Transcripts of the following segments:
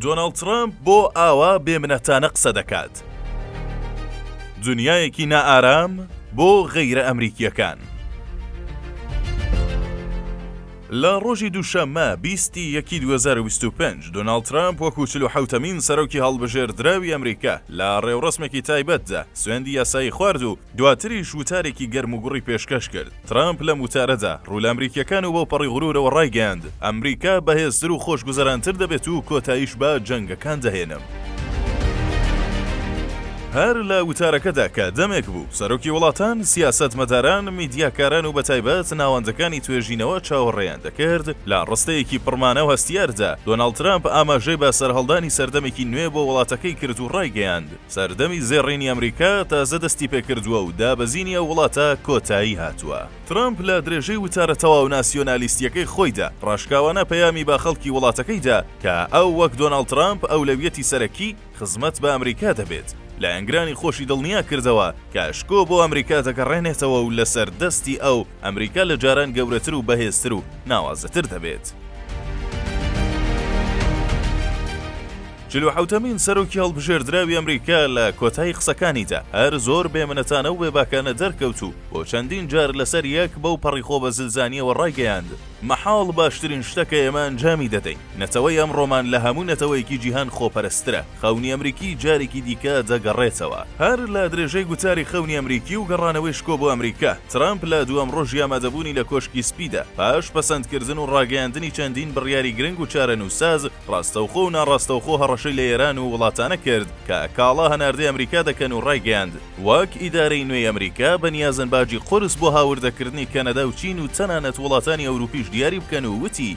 دۆناڵد ترەمپ بۆ ئاوا بێ منەتانە قسە دەکات؟ دنیایەکی نائارام بۆ غەیرە ئەمریکییەکان. لە ڕۆژی دووشەممە بیست ی یەکی دوو هەزار و بیست و پێنج دۆناڵد ترەمپ وەکوو چل و حەوتەمین سەرۆکی هەڵبژێردراوی ئەمریکا لە ڕێوڕەسمێکی تایبەتدا سوێندی یاسایی خوارد و دواتریش وتارێکی گەرموگوڕی پێشکەش کرد. ترامپ لەم وتارەدا ڕوو لە ئەمریکییەکان و بەو پەڕی غرورەوە ڕایگەیاند، ئەمریکا بەهێزتر و خۆشگوزەرانتر دەبێت و کۆتاییش بە جەنگەکان دەهێنم. هەر لە وتارەکەدا کە دەمێک بوو سەرۆکی وڵاتان، سیاسەتمەداران، میدیاکاران و بەتایبەت ناوەندەکانی توێژینەوە چاوەڕێیان دەکرد، لە ڕستەیەکی پڕمانا و هەستیاردا، دۆناڵد ترامپ ئاماژەی بە سەرهەڵدانی سەردەمێکی نوێ بۆ وڵاتەکەی کرد و ڕایگەیاند، سەردەمی زێڕینی ئەمریکا تازە دەستی پێکردووە و دابەزینی ئەو وڵاتە کۆتایی هاتووە. ترەمپ لە درێژەی وتارە تەواو ناسیۆنالیستییەکەی خۆیدا، ڕاشکاوانە پەیامی بە خەڵکی وڵاتەکەی دا کە ئەو وەک دۆناڵد ترەمپ ئەولەویەتی سەرەکی خزمەت بە ئەمریکا دەبێت. لایەنگرانی خۆشی دڵنیا کردەوە کە شکۆ بۆ ئەمریکا دەگەڕێنێتەوە و لەسەر دەستی ئەو، ئەمریکا لە جاران گەورەتر و بەهێزتر و ناوازەتر دەبێت. چل و حەوتەمین سەرۆکی هەڵبژێردراوی ئەمریکا لە کۆتایی قسەکانیدا هەر زۆر بێمنەتانە و بێباکانە دەرکەوت و بۆ چەندین جار لەسەر یەک بەو پەڕی خۆ بە زلزانییەوە ڕایگەیاند، مەحاڵ باشترین شتە کە ئێمە ئەنجامی دەدەین. نەتەوەی ئەمڕۆمان لە هەموو نەتەوەیەکی جیهان خۆپەرستترە. خەونی ئەمریکی جارێکی دیکە دەگەڕێتەوە. هەر لە درێژەی گوتاری خەونی ئەمریکی و گەڕانەوەی شکۆ بۆ ئەمریکا، ترەمپ لە دووەم ڕۆژی ئامادەبوونی لە کۆشکی سپیدا، پاش پەسەندکردن و ڕاگەیاندنی چەندین بڕیاری گرنگ و چارەنووسساز، ڕاستەوخۆ و ناڕاستەوخۆ هەڕەشەی لە ئێران و وڵاتانە کرد کە کاڵا هەناردەی ئەمریکا دەکەن و ڕایگەیاند، وەک ئیدارەی نوێی ئەمریکا بەنیازن باجی قورس بۆ هاوردەکردنی کەنەدا و چین و تەنانەت وڵاتانی ئەوروپیش دیاری بکەن و وتی،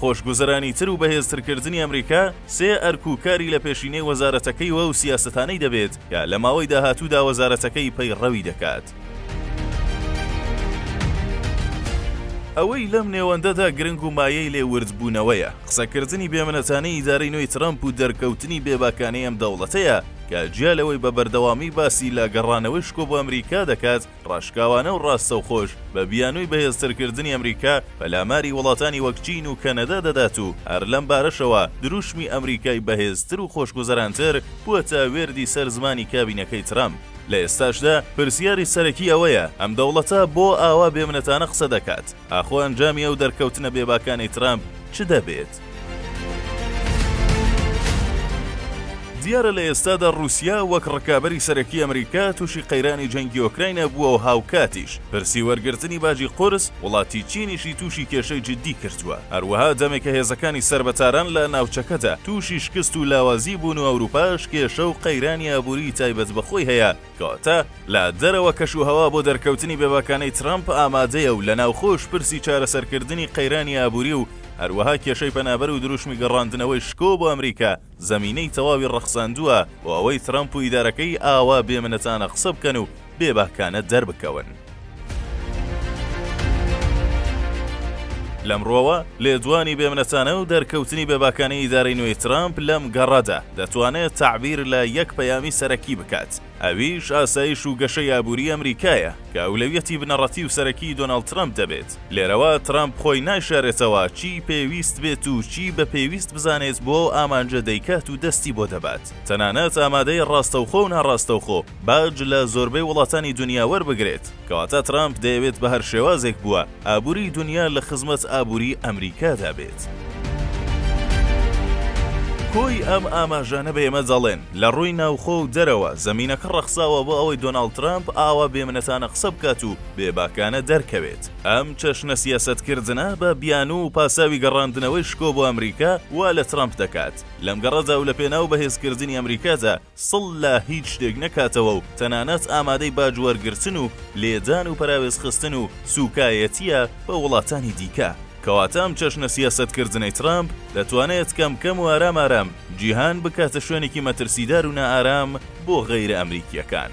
خۆشگوزەرانی تر و بەهێزتر کردنی ئەمریکا سێ ئەرک و کاری لە پێشینەی وەزارەتەکەی و ئەو سیاسەتانەی دەبێت کە لە ماوەی داهاتوودا وەزارەتەکەی پەیڕەوی دەکات. ئەوەی لەم نێوەندەدا گرنگ و مایەی لێ وردبوونەوەیە، قسەکردنی بێمنەتانەی ئیدارەی نوێی ترەمپ و دەرکەوتنی بێباکانەی ئەم دەوڵەتەیە کە جیا لەوەی بە بەردەوامی باسی لە گەڕانەوەی شکۆ بۆ ئەمریکا دەکات، ڕاشکاوانە و ڕاستەوخۆش بە بیانووی بەهێزترکردنی ئەمریکا، پەلاماری وڵاتانی وەک چین و کەنەدا دەدات و هەر لەم بارەشەوە دروشمی ئەمریکای بەهێزتر و خۆشگوزەرانتر بووەتە وێردی سەر زمانی کابینەکەی ترەمپ. لە ئێستاشدا پرسیاری سەرەکی ئەوەیە، ئەم دەوڵەتە بۆ ئاوا بێمنەتانە قسە دەکات؟ ئاخۆ ئەنجامی ئەو دەرکەوتنە بێباکانەی ترەمپ چ دەبێت؟ دیارە لە ئێستادا ڕووسیا وەک ڕکابەری سەرەکی ئەمریکا تووشی قەیرانی جەنگی ئۆکراینا بووە و هاوکاتیش پرسی وەرگرتنی باجی قورس، وڵاتی چینیشی تووشی کێشەی جیددی کردووە. هەروەها دەمێکە هێزەکانی سەر بە تاران لە ناوچەکەدا تووشی شکست و لاوازی بوون و ئەوروپاش کێشە و قەیرانی ئابووریی تایبەت بە خۆی هەیە، کەواتە لە دەرەوە کەشوهەوا بۆ دەرکەوتنی بێباکانەی ترەمپ ئامادەیە و لە ناوخۆش پرسی چارەسەرکردنی قەیرانی ئابووری و هەروەها کێشەی پەنابەر و دروشمی گەڕاندنەوەی شکۆ بۆ ئەمریکا زەمینەی تەواوی ڕەخساندووە بۆ ئەوەی ترەمپ و ئیدارەکەی ئاوا بێ منەتانە قسە بکەن و بێباکانە دەربکەون. لەمڕۆوە لێدوانی بێمنەتانە و دەرکەوتنی بێباکانەی ئیدارەی نوێی ترامپ لەم گەڕەدا دەتوانێت تەعبیر لە یەک پەیامی سەرەکی بکات ئەویش ئاسایش و گەشەی ئابووری ئەمریکایە کە ئەولەویەتی بنەڕەتی و سەرەکی دۆناڵد ترامپ دەبێت لێرەوە ترامپ خۆی نایشارێتەوە چی پێویست بێت و چی بە پێویست بزانێت بۆ ئەو ئامانجە دەیکات و دەستی بۆ دەبات تەنانەت ئامادەی ڕاستەوخۆ و ناڕاستەوخۆ باج لە زۆربەی وڵاتانی دونیا وەربگرێت، کەواتە ترامپ دەیەوێت بە هەر شێوازێک بووە ئابووریی دونیا لە خزمەت ئابووریی ئەمریکادا بێت. کۆی ئەم ئاماژانە بە ئێمە دەڵێن، لە ڕووی ناوخۆ و دەرەوە، زەمینەکە ڕەخساوە بۆ ئەوەی دۆناڵد ترامپ ئاوا بێمنەتانە قسە بکات و بێباکانە دەرکەوێت. ئەم چەشنە سیاسەتکردنە بە بیانوو و پاساوی گەڕاندنەوەی شکۆ بۆ ئەمریکا وا لە ترامپ دەکات لەم گەڕەدا و لەپێناو بەهێزکردنی ئەمریکادا، سڵ لە هیچ شتێک نەکاتەوە و تەنانەت ئامادەی باج وەرگرتن و لێدان و پەراوێزخستن و سووکایەتییە بە وڵاتانی دیکە. کەواتە ئەم چەشنە سیاسەتکردنەی ترامپ دەتوانێت کەم کەم و ئارام ئارام جیهان بکاتە شوێنێکی مەترسیدار و نائارام بۆ غەیرە ئەمریکییەکان.